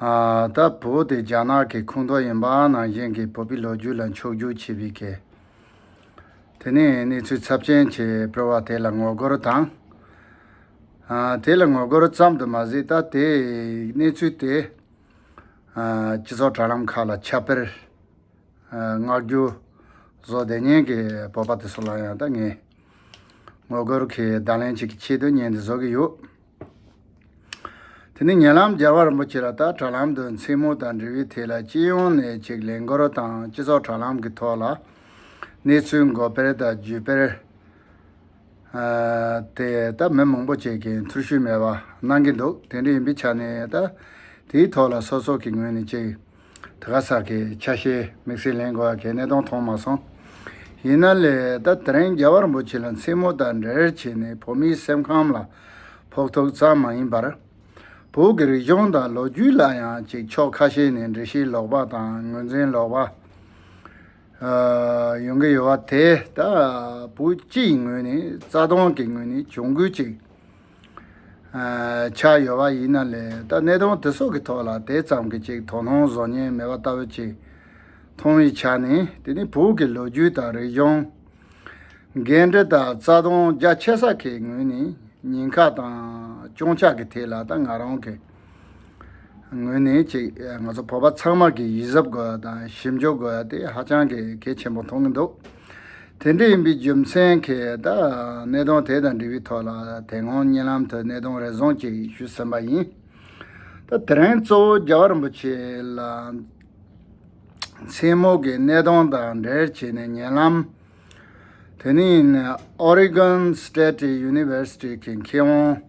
ད་བོ་དེ་རྒྱ་ནག་གི་ཁུངས་གཏོགས་ཡིན་པ་ནང་བཞིན་གྱི་བོད་པའི་ལོ་རྒྱུས་ལ་འཕྱོགས་རྒྱུག་བྱེད་པའི་གལ། དེ་ནས་གནས་ཚུལ་ཚབས་ཆེན་གྱི་སྤེལ་བ་དེ་ལ་ངོ་རྒོལ་དང། དེ་ལ་ངོ་རྒོལ་ཙམ་དུ་མ་ཟད་ད་ལྟའི་གནས་ཚུལ་དེ། སྤྱི་ཚོགས་དྲ་ལམ་ཁག་ལ་ཁྱབ་སྤེལ། མངགས་རྒྱུ། བཟོ་བདེ་ཉན་གྱི་བོད་པ་དེ་ཚོ་ལ་ཡང་ད་ངས་ངོ་རྒོལ་གྱི་བརྡ་ལན་ཅིག་གི་ཆེད་དུ་བརྙན་འདི་བཟོ་གི་ཡོད། དེ་ནས་ཉེ་ལམ་རྒྱལ་བ་རིན་པོ་ཆེ་ལ་དྭགས་དྲ་ལམ་དུ་མཚན་མོ་དང་འབྲེལ་བའི་ཐད་ལ་སྤྱི་ཡོངས་ནས་ཅིག་ལས་འགུལ་རོགས་དང་སྤྱི་ཚོགས་དྲ་ལམ་གྱི་ཐོག་ལ་གནས་ཚུལ་འགོད་སྤེལ་དང་བརྒྱུད་སྤེལ་དེ་ད་མི་མང་པོ་བྱེད་མཁན་ཚུར་ཤུལ་མེད་པ་གནང་གི་འདུག་དེ་འདྲ་ཡིན་པའི་ཆ་ནས་ད་དེའི་ཐོག་ལ་སོ་སོ་གི་ངོས་ནས་ཅིག་དེ་ག་ས་གའི་ཆ་ཤས་དམིགས་བསལ་ལེན་དགོས་གལ་གནད་དོན་མཐོང་མ་སོང། ཡིན་ན་ལས་ད་དེ་རིང་རྒྱལ་བ་རིན་པོ་ཆེ་ལ་མཚན་མོ་དང་འབྲེལ་བྱས་ནས་བོད་མིའི་སེམས་ཁམས་ལ་ཕོག་ཐུག་ཙམ་མ་ཡིན་པར། བོད་ཀྱི་རིག་གཞུང་དང་ལོ་རྒྱུས་ལ་ཡང་ཅིག་ཕྱོགས་ཁ་ཤས་ནས་འདྲི་གཞི་ལོག་པ་དང་ངོས་འཛིན་ལོག་པ། ཡོང་གི་ཡོད་པ་དེ་ད་བོད་སྤྱིའི་ངོས་ནས་རྩ་དོན་གྱི་ངོས་ནས་གྱོང་གུད་ཅིག། ཆགས་ཡོད་པ་ཡིན་ན་ལས་ད་གནས་སྟངས་དེ་སོགས་ཀྱི་ཐོག་ལ་དེ་ཙམ་གྱི་ཅིག་དོ་སྣང་བཟོ་ཉེན་མེད་པ་ལྟ་བུ་ཅིག་མཐོང་བའི་ཆ་ནས་དེ་ནི་བོད་ཀྱི་ལོ་རྒྱུས་དང་རིག་གཞུང། འགན་འཁྲི་དང་རྩ་དོན་རྒྱ་ཆེ་ས་ཁའི་ངོས་ནས་ཉེན་ཁ་དང་སྐྱོན་ཆག་གི་ཐད་ལ་ད་ང་རང་གིས་ངོས་ནས་གཅིག་ང་ཚོ་བོད་པ་ཚང་མར་གྱི་ཡིད་གཟབ་དགོས་པ་དང་ཞིབ་འཇུག་དགོས་པ་དེ་ཧ་ཅང་གི་གལ་ཆེན་པོ་མཐོང་གི་འདུག་དེ་འདྲ་ཡིན་པའི་རྒྱུ་མཚན་གྱིས་ད་གནད་དོན་དེ་དང་འབྲེལ་བའི་ཐོག་ལ་དེ་སྔོན་བརྙན་ལམ་དུ་གནད་དོན་རེ་ཟུང་ཅིག་ཞུས་ཟིན་པ་ཡིན། ད་དེ་རིང་གཙོ་བོ་རྒྱལ་བ་རིན་པོ་ཆེ་ལ་མཚན་མོ་གི་གནད་དོན་དང་འབྲེལ་བྱས་ནས་བརྙན་ལམ་དེ་ནི Oregon State University གི་མཁས་དབང།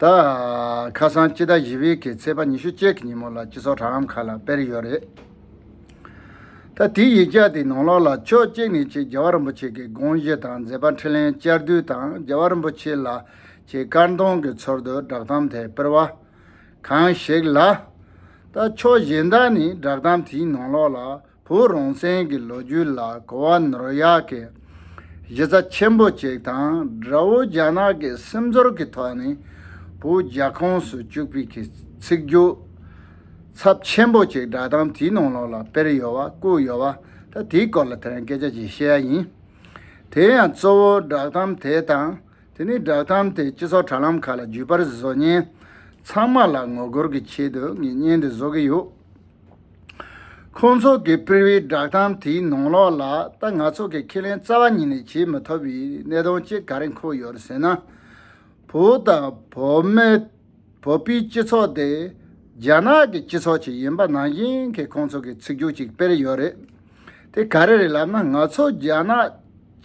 ད། ཁ་སང་སྤྱི་ཟླ་བཞི་བའི་གི་ཚེས་པ་ཉི་ཤུ་གཅིག་གི་ཉིན་མོ་ལ་སྤྱི་ཚོགས་དྲ་ལམ་ཁག་ལ་སྤེལ་ཡོད་རེད། ད། དེའི་ཡིག་ཆ་དེའི་ནང་ལོགས་ལ་ཕྱོགས་གཅིག་ནས་ཆེ་རྒྱལ་བ་རིན་པོ་ཆེ་གི་དགོངས་བཞེད་དང་མཛད་པ་འཕྲིན་ལན་བཅར་བསྡུ་དང་རྒྱལ་བ་རིན་པོ་ཆེ་ལ་ཆེ་དཀར་མདོང་གི་ཚོར་འདུ་བསྒྲགས་གཏམ་དེ་སྤེལ་བ་གང་ཞིག་ལ། ད། ཕྱོགས་གཞན་དག་ནས་བསྒྲགས་གཏམ་དེའི་ནང་ལོགས་ལ་བོད་རང་བཙན་གྱི་ལོ་རྒྱུས་ལ་གོ་བ་ནོར་ཡག་གི་གཞི་རྩ་ཆེན་པོ་གཅིག་དང་དགྲ་བོ་རྒྱ་ནག་གི་སེམས་ཚོར་གྱི་ཐོག་ནས་བོད་རྒྱ་ཁོངས་སུ་བཅུག་པའི་གི་ཚིག་རྒྱུ་ཚབ་ཆེན་པོ་གཅིག་སྒྲ་གདངས་དེའི་ནང་ལོགས་ལ་དཔེར་ཡོད་བ་བཀོད་ཡོད་བ་ད་དེའི་སྐོར་ལ་དེ་རིང་སྐད་ཆ་གཅིག་བཤད་ཡ་ཡིན། དེ་ཡང་གཙོ་བོ་བསྒྲགས་གཏམ་དེ་དང་དེ་ནས་བསྒྲགས་གཏམ་དེ་སྤྱི་ཚོགས་དྲ་ལམ་ཁག་ལ་བརྒྱུད་པར་བཟོ་ཉན་ཚང་མ་ལ་ངོ་རྒོལ་གྱི་ཆེད་དུ་ངས་བརྙན་འདི་བཟོ་གི་ཡོད། ཁོང་ཚོ་གི་སྤེལ་བའི་བསྒྲགས་གཏམ་དེའི་ནང་ལོགས་ལ་ད་ང་ཚོ་གི་ཁས་ལེན་རྩ་བ་ཉིད་ནས་བྱེད་མི་ཐུབ་པའི་གནད་དོན་གཅིག་ག་རེ་འཁོད་ཡོད་ཟེར་ན། བོད་དང་བོད་མི་བོད་པའི་སྤྱི་ཚོགས་དེ་རྒྱ་ནག་གི་སྤྱི་ཚོགས་ཅིག་ཡིན་པ་ནང་བཞིན་གྱི་ཁོང་ཚོ་གི་ཚིག་སྒྱུར་ཅིག་སྤེལ་ཡོད་རེད། དེ་ག་རེ་རེད་ལབ་ན་ང་ཚོ་རྒྱ་ནག་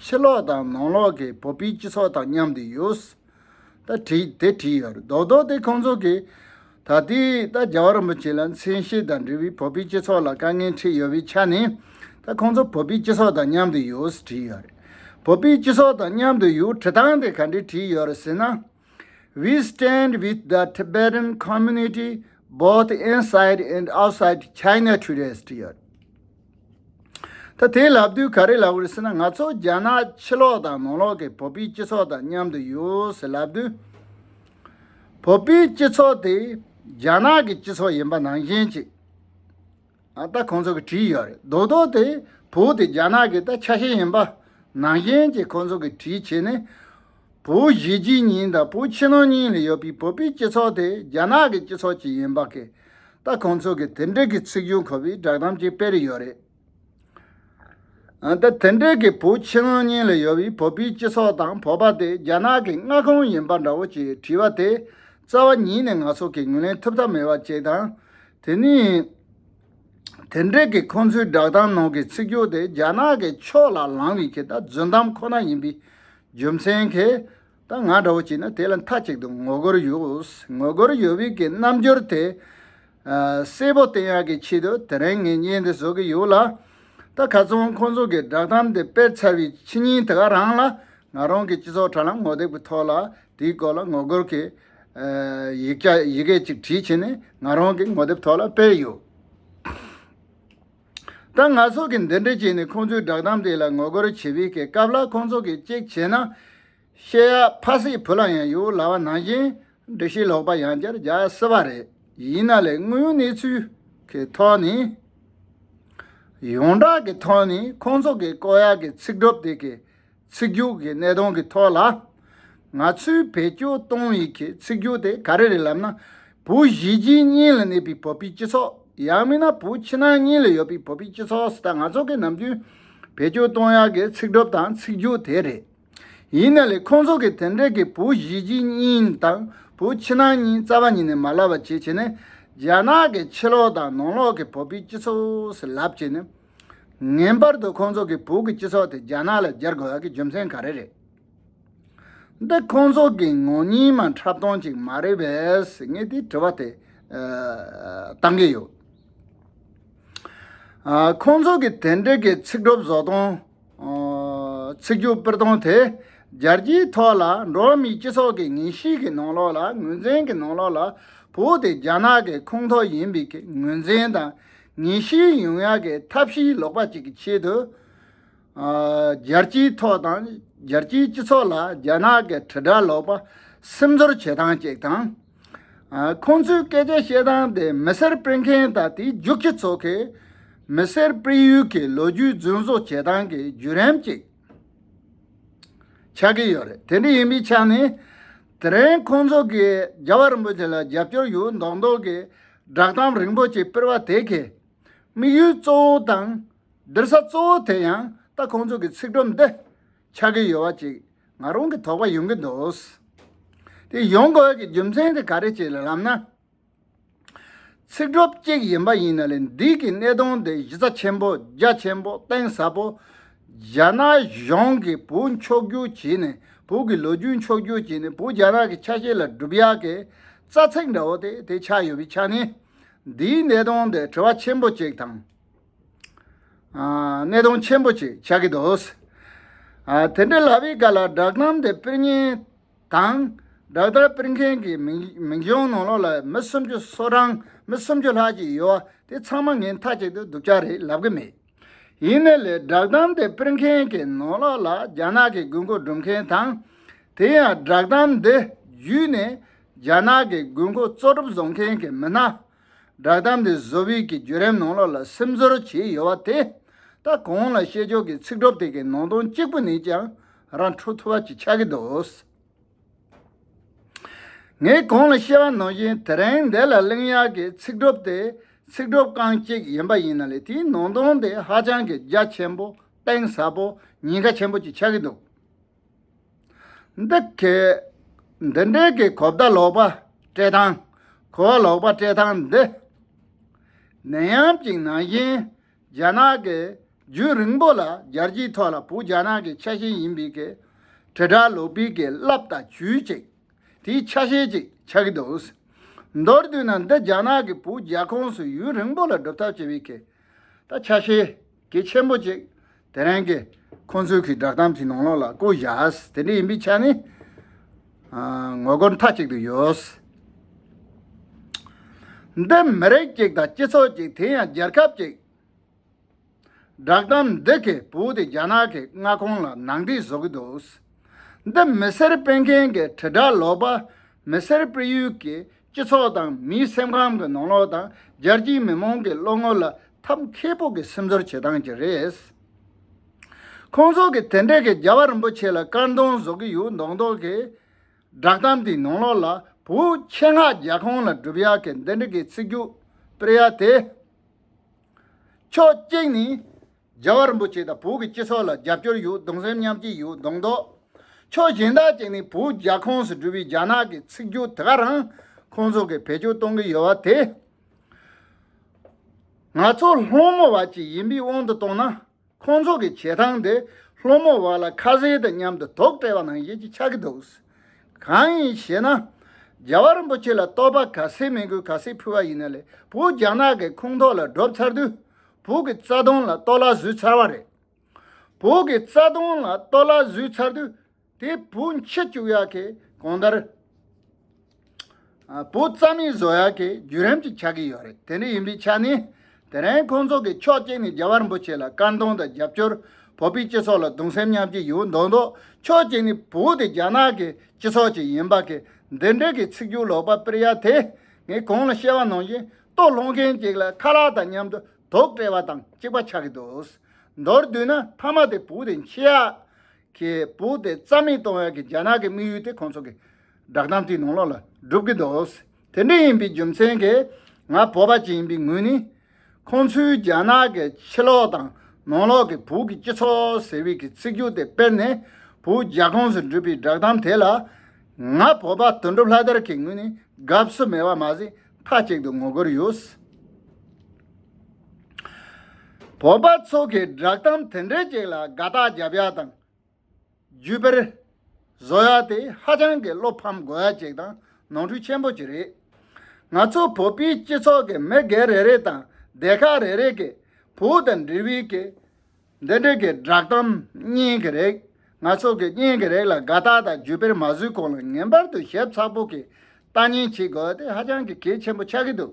ཕྱི་ལོགས་དང་ནང་ལོགས་གི་བོད་པའི་སྤྱི་ཚོགས་དང་མཉམ་དུ་ཡོད། ད་བྲིས་དེ་བྲིས་ཡོད་རེད་རྡོག་རྡོག་དེ་ཁོང་ཚོ་གིས་ད་ལྟའི་ད་རྒྱ་བ་རིན་པོ་ཆེ་ལ་མཚན་ཤས་དང་འབྲེལ་བའི་བོད་པའི་སྤྱི་ཚོགས་ལ་དཀའ་ངལ་འཕྲད་ཡོད་པའི་ཆ་ནས་ད་ཁོང་ཚོ་བོད་པའི་སྤྱི་ཚོགས་དང་མཉམ་དུ་ཡོད་ཟེར་བྲིས་ཡོད་རེད། བོད་པའི་སྤྱི་ཚོགས་དང་མཉམ་དུ་ཡོད་བྲི་སྟངས་དེ་ག་འདྲས་བྲིས་ཡོད་རེད་ཟེར་ན། We stand with the Tibetan community both inside and outside China today ཟེར་བྲིས་ཡོད་རེད། ད་དེ་ལབ་དུས་ག་རེ་ལབ་དགོས་ཟེར་ན་ང་ཚོ་རྒྱ་ནག་ཕྱི་ལོག་དང་ནང་ལོག་གི་བོད་པའི་སྤྱི་ཚོགས་དང་མཉམ་དུ་ཡོད་ཟེར་ལབ་དུས། བོད་པའི་སྤྱི་ཚོགས་དེ་རྒྱ་ནག་གི་སྤྱི་ཚོགས་ཡིན་པ་ནང་བཞིན་གྱིས། ད་ཁོང་ཚོ་གིས་བྲིས་ཡོད་རེད་རྡོག་རྡོག་དེ་བོད་དེ་རྒྱ་ནག་གི་ད་ཆ་ཤས་ཡིན་པ་ནང་བཞིན་གྱིས་ཁོང་ཚོ་གིས་བྲིས་བྱས་ནས། བོད་གཞིས་བྱེས་གཉིས་དང་བོད་ཕྱི་ནང་གཉིས་ལ་ཡོད་པའི་བོད་པའི་སྤྱི་ཚོགས་དེ་རྒྱ་ནག་གི་སྤྱི་ཚོགས་ཅིག་ཡིན་པ་གས་ད་ཁོང་ཚོ་གིས་དེ་འབྲེལ་གྱི་ཚིག་སྦྱོར་འཁོར་བའི་བསྒྲགས་གཏམ་ཅིག་སྤེལ་ཡོད་རེད། ད་དེ་འབྲེལ་གྱི་བོད་ཕྱི་ནང་གཉིས་ལ་ཡོད་པའི་བོད་པའི་སྤྱི་ཚོགས་དང་བོད་པ་དེ་རྒྱ་ནག་གི་མངའ་ཁོངས་ཡིན་པ་འདྲ་བོ་ཅེས་དྲིས་པ་དེ་རྩ་བ་ཉིད་ནས་ང་ཚོ་གིས་ངོས་ལེན་ཐུབ་ཐབས་མེད་པ་ཅིག་དང་དེ་ནི། དེ་འབྲེལ་གྱི་ཁོང་ཚོའི་བསྒྲགས་གཏམ་ནང་གི་ཚིག་སྦྱོར་དེ་རྒྱ་ནག་གི་ཕྱོགས་ལ་ལངས་བའི་གི་ད་རྫུན་གཏམ་ཁོ་ན་ཡིན་པའི་རྒྱུ་མཚན་གི་ད་ང་འདྲ་བོ་གྱིས་ནི་དེ་ལ་མཐའ་གཅིག་ཏུ་ངོ་རྒོལ་ཡོད་ངོ་རྒོལ་ཡོད་བའི་གི་རྣམ་འགྱུར་དེ་གསལ་པོ་བསྟན་ཡག་གི་ཆེད་དུ་དེ་རིང་ངས་བརྙན་འདི་བཟོ་གི་ཡོད་ལ། ད་ག་ཚོང་ཁོང་ཚོ་གི་བསྒྲགས་གཏམ་དེ་སྤེལ་ཚར་བའི་ཕྱི་ཉིན་དེ་ག་རང་ལ་ང་རང་གི་སྤྱི་ཚོགས་དྲ་ལམ་ངོ་དེབ་གི་ཐོག་ལ་དེའི་སྐོར་ལ་ངོ་རྒོལ་གི་ཡིག་ཆ་ཡི་གེ་གཅིག་བྲིས་བྱས་ནས་ང་རང་གི་ངོ་དེབ་ཐོག་ལ་སྤེལ་ཡོད། ད་ང་སོགས་ཀྱིས་འདི་འདྲ་བྱས་ནས་ཁོང་ཚོའི་བསྒྲགས་གཏམ་དེ་ལ་ངོ་རྒོལ་བྱེད་པའི་གི་སྐབས་ལ་ཁོང་ཚོ་གིས་གཅིག་བྱས་ན། ཤེས་ཡག་ཕ་སའི་བུ་ལ་ཡང་ཡོད་ལ་བ་ནང་བཞིན་འབྲི་ཤེས་ལོག་པ་ཡང་བསྐྱར་རྒྱག་སྲིད་པ་རེད། ཡིན་ན་ལས་དངོས་གནས་ཚུལ་གྱི་ཐོག་ནས། ཡོངས་གྲགས་ཀྱི་ཐོག་ནས་ཁོང་ཚོ་གིས་བཀོད་ཡག་གི་ཚིག་སྒྲུབ་དེ་གི་ཚིག་རྒྱུགས་ཀྱི་གནད་དོན་གྱི་ཐོག་ལ། ང་ཚོས་བེད་སྤྱོད་གཏོང་ཡུལ་གྱི་ཚིག་རྒྱུགས་དེ་ག་རེ་རེད་ལབ་ན། བུ་བཞི་གྱི་གཉིས་ལ་གནས་པའི་བོད་པའི་སྤྱི་ཚོགས། ཡང་མིན་ན་བུ་ཕྱི་ནང་གཉིས་ལ་ཡོད་པའི་བོད་པའི་སྤྱི་ཚོགས་སུ་ད་ང་ཚོ་གིས་ནམ་རྒྱུན་བེད་སྤྱོད་གཏོང་ཡག་གི་ཚིག་གྲུབ་དང་ཚིག་རྒྱུགས་དེ་རེད། ཡིན་ན་ལས་ཁོང་ཚོ་གིས་དེ་འདྲས་ཀྱི་བུ་བཞི་གྱི་གཉིས་དང་བུ་ཕྱི་ནང་གཉིས་རྩ་བ་ཉིད་ནས་མ་ལབ་པ་བྱེད་བྱེད་ནས་རྒྱ་ནག་གི་ཕྱི་ལོགས་དང་ནང་ལོགས་ཀྱི་བོད་པའི་སྤྱི་ཚོགས་སུ་ལབ་བྱེད་ནས། ངེས་པར་དུ་ཁོང་ཚོ་གི་བུ་གི་སྤྱི་ཚོགས་དེ་རྒྱ་ནག་ལ་སྒྱར་དགོས་གི་རྒྱུ་མཚན་ག་རེ་རེད། འདི་ཁོང་ཚོ་གི་ངོ་གཉིས་མ་འཁྲབ་སྟོང་ཅིག་མ་རེད་བས་ངས་དེ་དྲི་བ་དེ་བཏང་གི་ཡོད། ཁོང་ཚོ་གི་དེ་འདྲི་གི་ཚིག་སྒྲོབ་བཟོ་སྟོང། ཚིག་རྒྱུག་སྤེལ་སྟོང་དེ་རྒྱལ་སྤྱིའི་ཐོག་ལ་འགྲོ་མིའི་སྤྱི་ཚོགས་གི་ངན་གཤིས་གི་ནང་ལོག་ལ་ངོས་འཛིན་གི་ནང་ལོག་ལ་བུ་དེ་རྒྱ་ནག་གི་ཁུངས་ཐོག་ཡིན་པའི་ངོས་འཛིན་དང་ཉིན་ཞིག་ཡུང་ཡ་གི་ཐབས་ཤེས་ལོག་པ་གཅིག་གི་ཆེད་དུ། རྒྱལ་སྤྱིའི་ཐོག་དང་རྒྱལ་སྤྱིའི་སྤྱི་ཚོགས་ལ་རྒྱ་ནག་གི་དྲིལ་བསྒྲགས་ལོག་པ་སེམས་ཚོར་བྱེད་སྟངས་གཅིག་དང། ཁོང་ཚོའི་སྐད་ཆ་བཤད་སྟངས་དེ་མི་སེར་སྤེལ་མཁན་དང་དེའི་རྒྱུག་ཁྱི་ཚོ་གིས་མི་སེར་སྤེལ་ཡུལ་གྱི་ལོ་རྒྱུས་རྫུན་བཟོ་བྱེད་སྟངས་ཀྱི་བརྒྱུད་རིམ་གཅིག། ཆགས་ཀྱི་ཡོད་རེད་དེ་འདྲ་ཡིན་པའི་ཆ་ནས་དེ་རིང་ཁོང་ཚོ་གིས་རྒྱ་བ་རིན་པོ་ཆེ་ལ་རྒྱབ་སྐྱོར་ཡོད་མདོག་མདོག་གི་བསྒྲགས་གཏམ་རིང་པོ་ཅིག་སྤེལ་བ་དེ་གའི་དམིགས་ཡུལ་གཙོ་བོ་དང་སྡུར་ས་གཙོ་བོ་དེ་ཡང་ད་ཁོང་ཚོ་གི་ཚིག་སྒྲོམ་འདི་ཆགས་ཀྱི་ཡོད་བ་ཅིག་ང་རང་གི་དོགས་པ་ཡོང་གི་འདུག་དེ་ཡོང་དགོས་ཀྱི་རྒྱུ་མཚན་དེ་ག་རེ་བྱས་ལབ་ན། ཚིག་གྲུབ་གཅིག་ཡིན་པ་ཡིན་ན་ལས་འདི་གི་གནད་དོན་དེ་གཞི་རྩ་ཆེན་པོ་རྒྱ་ཆེན་པོ་གཏིང་ཟབ་པོ། རྒྱ་ནག་གཞུང་གིས་བུ་མཆོག་རྒྱུག་བྱས་ནས་བུ་གི་ལོ་རྒྱུས་མཆོག་རྒྱུག་བྱས་ནས་བུ་རྒྱ་ནག་གི་ཆ་ཤས་ལ་སྒྲུབ་ཡག་གི་རྩ་ཚིག་འདྲ་བོ་དེ་དེ་ཆགས་ཡོད་པའི་ཆ་ནས། འདིའི་གནད་དོན་དེ་དྲི་བ་ཆེན་པོ་གཅིག་དང། གནད་དོན་ཆེན་པོ་གཅིག་ཆགས་ཀྱི་འདུག། དེ་འདྲ་ལབ་པའི་སྐབས་ལ་བསྒྲགས་གཏམ་དེ་དཔེར་ཉན། དང། སྦྲག་བརྡར་སྤེལ་མཁན་གྱི་མིང་གཞུང་ནང་ལོགས་ལ་མི་སུམ་ཅུ་སོ་གྲངས་མི་སུམ་ཅུ་ལྷག་ཅིག་ཡོད་བ་དེ་ཚང་མ་ངའི་མཐའ་གཅིག་ཏུ་སྡུག་ཅག་རེད་ལབ་གི་མེད། ཡིན་ནའི་ལས་སྦྲག་གཏམ་དེ་སྤེལ་མཁན་གྱི་ནང་ལོགས་ལ་རྒྱ་ནག་གི་དགོས་མཁོ་སྒྲུབ་མཁན་དང། དེ་ཡང་སྦྲག་གཏམ་འདི་བརྒྱུད་ནས་རྒྱ་ནག་གི་དགོས་མཁོ་གཙོ་སྒྲུབ་བཟོ་མཁན་གྱི་མི་སྣ་བསྒྲགས་གཏམ་འདི་བཟོ་བྷིད་ཀྱི་བརྒྱུད་རིམ་ནང་ལོགས་ལ་སེམས་ཚོར་བྱེད་ཡོད་པ་དེ་ད་གོང་ལ་བཤད་ཆོག་གི་ཚིག་གྲོགས་དེ་གའི་ནང་དོན་གཅིག་པུ་ནས་ཀྱང་རང་འཁྲུག་ཐུབ་པ་ཅིག་ཆགས་ཀྱི་འདུག་ངས་གོང་ལ་བཤད་པ་ནང་བཞིན་དེ་རིང་འདི་ལ་གླེང་ཡག་གི་ཚིག་གྲོགས་དེ་ཚིག་གྲོགས་རྐང་གཅིག་ཡིན་པ་ཡིན་ན་ལས་དེའི་ནང་དོན་དེ་ཧ་ཅང་གི་རྒྱ་ཆེན་པོ་གཏིང་ཟབ་པོ་ཉེན་ཁ་ཆེན་པོ་ཅིག་ཆགས་ཀྱི་འདུག། འདི་གའི་འདི་འདྲའི་གི་གོ་བརྡ་ལོག་པ་སྤྲད་སྟངས་གོ་བ་ལོག་པ་སྤྲད་སྟངས་འདི། ནད་ཡམས་གཅིག་ནང་བཞིན་རྒྱ་ནག་གི་རྒྱུད་རིང་པོ་ལ་རྒྱལ་སྤྱིའི་ཐོག་ལ་བུ་རྒྱ་ནག་གི་ཆ་ཤས་ཡིན་པའི་གི་དྲིལ་བསྒྲགས་ལོག་པའི་གི་རླབས་དང་བྱུས་ཅིག་དེའི་ཆ་ཤས་ཅིག་ཆགས་ཀྱི་འདུག་མདོར་བསྡུས་ན་འདི་རྒྱ་ནག་གི་བུ་རྒྱ་ཁོངས་སུ་ཡུན་རིང་པོ་ལ་སྒྲུབ་ཐབས་བྱས་པའི་གི་ད་ཆ་ཤས་གི་ཆེན་པོ་ཅིག་དེ་རིང་གི་ཁོང་ཚོའི་གི་བསྒྲགས་གཏམ་གྱི་ནང་ལོགས་ལ་བསྐོ་བཞག་དེ་འདྲ་ཡིན་པའི་ཆ་ནས། ངོ་རྒོལ་མཐའ་གཅིག་ཏུ་ཡོད། འདི་མི་རིགས་གཅིག་དང་སྤྱི་ཚོགས་གཅིག་དེ་ཡང་རྒྱལ་ཁབ་ཅིག། བསྒྲགས་གཏམ་འདི་གི་བོུ་དེ་རྒྱ་ནག་གི་མངའ་ཁོངས་ལ་ནང་འདྲེན་བཟོ་གི་འདུག་འདི་མི་སེར་སྤེལ་མཁན་གི་དྲིལ་བསྒྲགས་ལོག་པ་མི་སེར་སྤེལ་ཡུལ་གྱི་སྤྱི་ཚོགས་དང་མིའི་སེམས་ཁམས་ཀྱི་ནང་ལོགས་དང་རྒྱལ་སྤྱིའི་མི་མང་གི་བློ་ངོར་ལ་ཐབས་མཁས་པོ་གི་སེམས་ཚོར་བྱེད་སྟངས་ཀྱི་རེད། ཁོང་ཚོ་གི་དེ་འདྲས་གི་རྒྱལ་བ་རིན་པོ་ཆེ་ལ་དཀར་མདོང་བཟོ་གི་ཡོད་མདོག་མདོག་གི། བསྒྲགས་གཏམ་དེའི་ནང་ལོགས་ལ་བོད་ཆེ་ངག་རྒྱལ་ཁོང་ལ་སྒྲུབ་ཡག་གི་འདི་འདྲས་གི་ཚིག་རྒྱུགས་སྤེལ་ཡག་དེ། ཕྱོགས་གཅིག་ནས་རྒྱལ་བ་རིན་པོ་ཆེ་དང་བོད་ཀྱི་སྤྱི་ཚོགས་ལ་རྒྱབ་སྐྱོར་ཡོད་གདུང་སེམས་མཉམ་སྐྱེད་ཡོད་གདུང་འདོགས། ཕྱོགས་གཞན་དག་ཅིག་ནས་བོད་རྒྱ་ཁོངས་སུ་གྲུབ་པའི་རྒྱ་ནག་གི་ཚིག་སྦྱོར་དེ་ག་རང་ཁོང་ཚོ་གིས་བེད་སྤྱོད་གཏོང་གི་ཡོད་བ་དེ། ང་ཚོ་སློང་མོ་བ་ཅིག་ཡིན་པའི་དབང་དུ་བཏང་ན། ཁོང་ཚོ་གི་བྱེད་སྟངས་དེ་སློང་མོ་བ་ལ་ཁ་ཟས་དང་མཉམ་དུ་དོགས་བྲལ་བ་ནང་བཞིན་གྱི་ཆགས་ཀྱི་འདུག། གང་ཡིན་ཞེ་ན། རྒྱལ་བ་རིན་པོ་ཆེ་ལ་རྟོགས་པ་ག་ཚད་མེད་དགོས་ག་ཚད་ཕུལ་བ་ཡིན་ན་ལས་བོད་རྒྱ་ནག་གི་ཁུངས་ཐོག་ལ་བསྒྲོབ་ཚར་དུས། བོད་ཀྱི་རྩ་དོན་ལ་གཏོར་བརླག་བཟོས་ཚར་བ་རེད། བོད་ཀྱི་རྩ་དོན་ལ་གཏོར་བརླག་བཟོས་ཚར་དུས་དེ་བོད་མཆེད་བཅུག་ཡག་གི་གང་ལྟར། བོད་རྩ་མེད་བཟོ་ཡག་གི་བརྒྱུད་རིམ་ཅིག་ཆགས་ཀྱི་ཡོད་རེད་དེ་འདྲ་ཡིན་པའི་ཆ་ནས། དེ་རིང་ཁོང་ཚོ་གིས་ཕྱོགས་གཅིག་ནས་རྒྱ་བར་འབུ་ཆེ་ལ་དཀར་འདོན་དང་རྒྱབ་སྐྱོར། བོད་པའི་སྤྱི་ཚོགས་ལ་གདུང་སེམས་མཉམ་སྐྱེད་ཡོད་མདོག་མདོག་ཕྱོགས་གཅིག་ནས་བོད་དེ་རྒྱ་ནག་གི་སྤྱི་ཚོགས་ཅིག་ཡིན་པ་གི་འདི་འདྲ་གི་ཚིག་སྒྱུར་ལོག་པ་སྤེལ་ཡག་དེ། ངས་གང་ལ་བཤད་བ་ནང་བཞིན་ལྟོ་སློང་མཁན་གཅིག་ལ་ཁ་ལག་དང་མཉམ་དུ་དོགས་བྲལ་བ་དང་གཅིག་པ་ཆགས་ཀྱི་འདུག་མདོར་བསྡུས་ན་ཕ་མ་དེ་བུ་དེ་འཆི་ཡག་གི་བུ་དེ་རྩ་མེད་གཏོང་ཡག་གི་རྒྱ་ནག་གི་དམིགས་ཡུལ་དེ་ཁོང་ཚོ་གི་བསྒྲགས་གཏམ་དེའི་ནང་ལོགས་ལ་སྒྲུབ་ཀྱི་འདུག་དེ་འདྲ་ཡིན་པའི་རྒྱུ་མཚན་གྱིས་ང་བོད་པ་ཅིག་ཡིན་པའི་ངོས་ནས། ཁོང་ཚོའི་རྒྱ་ནག་གི་ཕྱི་ལོགས་དང་ནང་ལོགས་ཀྱི་བོད་ཀྱི་སྤྱི་ཚོགས་ཟེར་བའི་གི་ཚིག་རྒྱུགས་དེ་དཔེར་ནས་བོད་རྒྱ་ཁོངས་སུ་འགྲུབ་པའི་བསྒྲགས་གཏམ་དེ་ལ། ང་བོད་པ་དོན་གྲུབ་ལྷ་དར་གྱི་ངོས་ནས་དགའ་བསུ་མེད་པ་མ་ཟད་མཐའ་གཅིག་ཏུ་ངོ་རྒོལ་ཡོད། བོད་པ་ཚོ་གིས་བསྒྲགས་གཏམ་དེ་འདྲའི་ཅིག་ལ་དགའ་རྟགས་བརྒྱབ་ཡ་དང། བརྒྱུད་སྤེལ། བཟོ་ཡ་དེ་ཧ་ཅང་གི་བློ་ཕམ་དགོས་ཡ་ཅིག་དང་ནོར་འཁྲུལ་ཆེན་པོ་ཅིག་རེད། ང་ཚོ་བོད་པའི་སྤྱི་ཚོགས་ཀྱི་མི་སྒེར་རེ་རེ་དང་སྡེ་ཁག་རེ་རེ་གིས་བོད་དང་འབྲེལ་བའི་གི་འདི་འགྲིག་གི་བསྒྲགས་གཏམ་རྙིང་གི་རེད། ང་ཚོ་གི་རྙིང་གི་རེད་ལ་དགའ་རྟགས་དང་བརྒྱུད་སྤེལ་མ་བཟོས་གོང་ལ་ངེས་པར་དུ་ཞབས་ཚགས་པོ་གི་ལྟ་ཉན་བྱེད་དགོས་དེ་ཧ་ཅང་གི་གལ་ཆེན་པོ་ཆགས་ཀྱི་འདུག་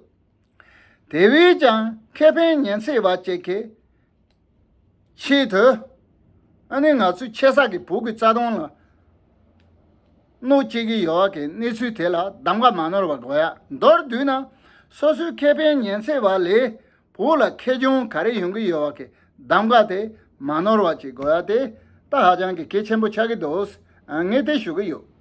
དེ་བས་ཀྱང་ཁེ་ཕན་ཉེན་ཚེ་བ་བཅས་ཀྱི་ཆེད་དུ་ཨ་ནི་ང་ཚོའི་ཆེ་ས་ཀྱི་བུ་གི་རྩ་དོན་ལ་གནོད་བསྐྱེལ་གྱི་ཡོད་བ་གི་གནས་ཚུལ་དེ་ལ་གདམ་ག་མ་ནོར་བ་དགོས་ཡག་མདོར་བསྡུས་ན་སོ་སོའི་ཁེ་ཕན་ཉེན་ཚེ་བ་ལས་བོད་ལ་ཁེ་གྱོང་ག་རེ་ཡོང་གི་ཡོད་བ་གི་གདམ་ག་དེ་མ་ནོར་བ་གཅིག་དགོས་ཡ་དེ་ད་ཧ་ཅང་གི་གེ་ཆེན་པོ་ཆགས་གི་འདུག་ངས་དེ་ཞུ་གི་ཡོད།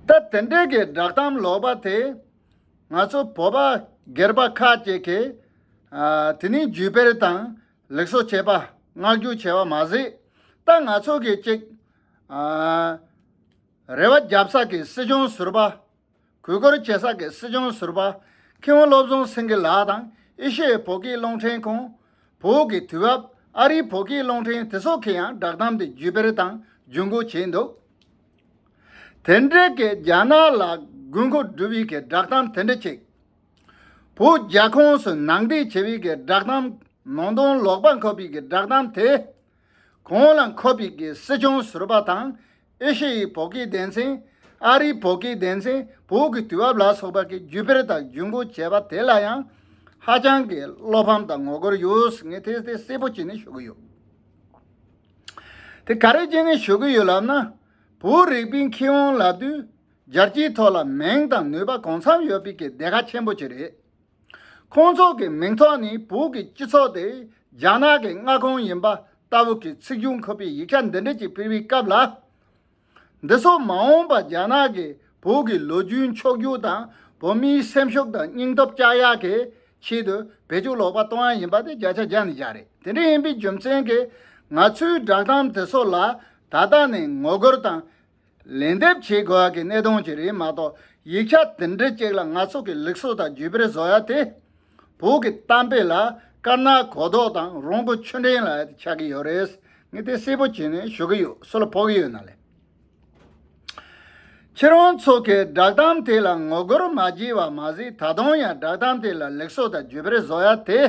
ད་དེ་འདྲས་གི་བསྒྲགས་གཏམ་ལོག་པ་དེ་ང་ཚོ་བོད་པ་སྒེར་པ་ཁ་ཅིག་གི་དེ་ནི་བརྒྱུད་སྤེལ་དང་ལེགས་སོ་བྱས་པ་བསྔགས་བརྒྱུད་བྱས་བ་མ་ཟད་ད་ང་ཚོ་གི་གཅིག་རེ་བ་བརྒྱབ་ས་ཀྱི་སྲིད་སྐྱོང་ཟུར་པ། གུས་བཀུར་བྱེད་ས་ཀྱི་སྲིད་སྐྱོང་ཟུར་པ། ཁེའུ་བློ་བཟང་སེང་གེ་ལགས་དང་ཨི་ཤེ་ཡའི་བོད་སྐྱིད་རླུང་འཕྲིན་ཁོང། བོད་ཀྱི་དུས་བབ་ཨ་རིའི་བོད་སྐྱིད་རླུང་འཕྲིན་དེ་སོགས་ཀྱིས་ཡང་བསྒྲགས་གཏམ་དེ་བརྒྱུད་སྤེལ་དང་བརྒྱུད་འགོད་བྱས་འདུག་དེ་འབྲེལ་གྱི་རྒྱ་ནག་ལ་དགོས་མཁོ་སྒྲུབ་ཡུལ་གྱི་བསྒྲགས་གཏམ་དེ་འདྲ་གཅིག། བོད་རྒྱ་ཁོངས་སུ་ནང་འདྲེན་བྱེད་ཡུལ་གྱི་བསྒྲགས་གཏམ། ནང་དོན་ལོག་པ་འཁོབ་ཡུལ་གྱི་བསྒྲགས་གཏམ་དེ། བསྒྲགས་གོང་ལ་འཁོད་པའི་གི་སྲིད་སྐྱོང་ཟུར་པ་དང་ཨེ་ཤེ་ཡའི་བོད་སྐད་སྡེ་ཚན། ཨ་རིའི་བོད་སྐད་སྡེ་ཚན་བོད་ཀྱི་དུས་བབ་ལ་སོགས་པ་གིས་བརྒྱུད་སྤེལ་དང་བརྒྱུད་འགོད་བྱས་པ་དེ་ལ་ཡང་ཧ་ཅང་གི་བློ་ཕམ་དང་ངོ་རྒོལ་ཡོད་ངེས་དེ་དེ་གསལ་པོ་བྱས་ནས་ཞུ་གི་ཡོད། དེ་ག་རེ་བྱས་ནས་ཞུ་གི་ཡོད་ལབ་ན། བོད་རིག་པའི་མཁས་དབང་ལབ་དུས་རྒྱལ་སྤྱིའི་ཐོག་ལ་མིང་དང་ནུས་པ་གང་འཚམ་ཡོད་པའི་གི་སྡེ་ཁག་ཆེན་པོ་གཅིག་རེད། ཁོང་ཚོ་གི་མིང་ཐོག་ནི་བོད་ཀྱི་སྤྱི་ཚོགས་དེ་རྒྱ་ནག་གི་མངའ་ཁོངས་ཡིན་པ་ལྟ་བུ་གི་ཚིག་རྒྱུན་འཁོད་པའི་ཡིག་ཆ་འདི་འབྲི་བྱེད་ཕུལ་བའི་སྐབས་ལ། འདི་ཚོ་མ་འོངས་པ་རྒྱ་ནག་གི་བོད་ཀྱི་ལོ་རྒྱུས་མཆོག་གྱུར་དང་བོད་མིའི་སེམས་ཤུགས་དང་སྙིང་སྟོབས་བསྐྱར་ཡག་གི་ཆེད་དུ་བེད་སྤྱོད་ལོག་པ་གཏོང་ཡ་ཡིན་པ་དེ་བརྒྱ་ཆ་བརྒྱ་ནས་བརྒྱ་རེད་དེ་འདྲ་ཡིན་པའི་རྒྱུ་མཚན་གི་ང་ཚོའི་བསྒྲགས་གཏམ་དེ་ཚོ་ལ་ད་ལྟ་ནས་ངོ་རྒོལ་དང། ལན་འདེབས་བྱེད་དགོས་ཡག་གི་གནད་དོན་ཅིག་རེད་མ་གཏོགས་ཡིག་ཆ་དེ་འདྲ་ཅིག་ལ་ང་ཚོ་གི་ལེགས་སོ་དང་རྒྱུས་པེར་བཟོ་ཡག་དེ། བོད་ཀྱི་གཏམ་དཔེ་ལ་དཀར་ནག་གོ་ལྡོག་དང་རོང་པོ་ཆུ་འདྲེན་ལ་ཆགས་གི་ཡོད་རེད། ངས་དེ་གསལ་པོ་བྱས་ནས་ཞུ་གི་ཡོད་སུ་ལ་ཕོག་གི་ཡོད་ན་ལེ། ཁྱེད་རང་ཚོ་གི་བསྒྲགས་གཏམ་དེ་ལ་ངོ་རྒོལ་མ་བགྱིས་བ་མ་ཟད་ད་དུང་ཡང་བསྒྲགས་གཏམ་དེ་ལ་ལེགས་སོ་དང་རྒྱུས་པེར་བཟོ་ཡག་དེ།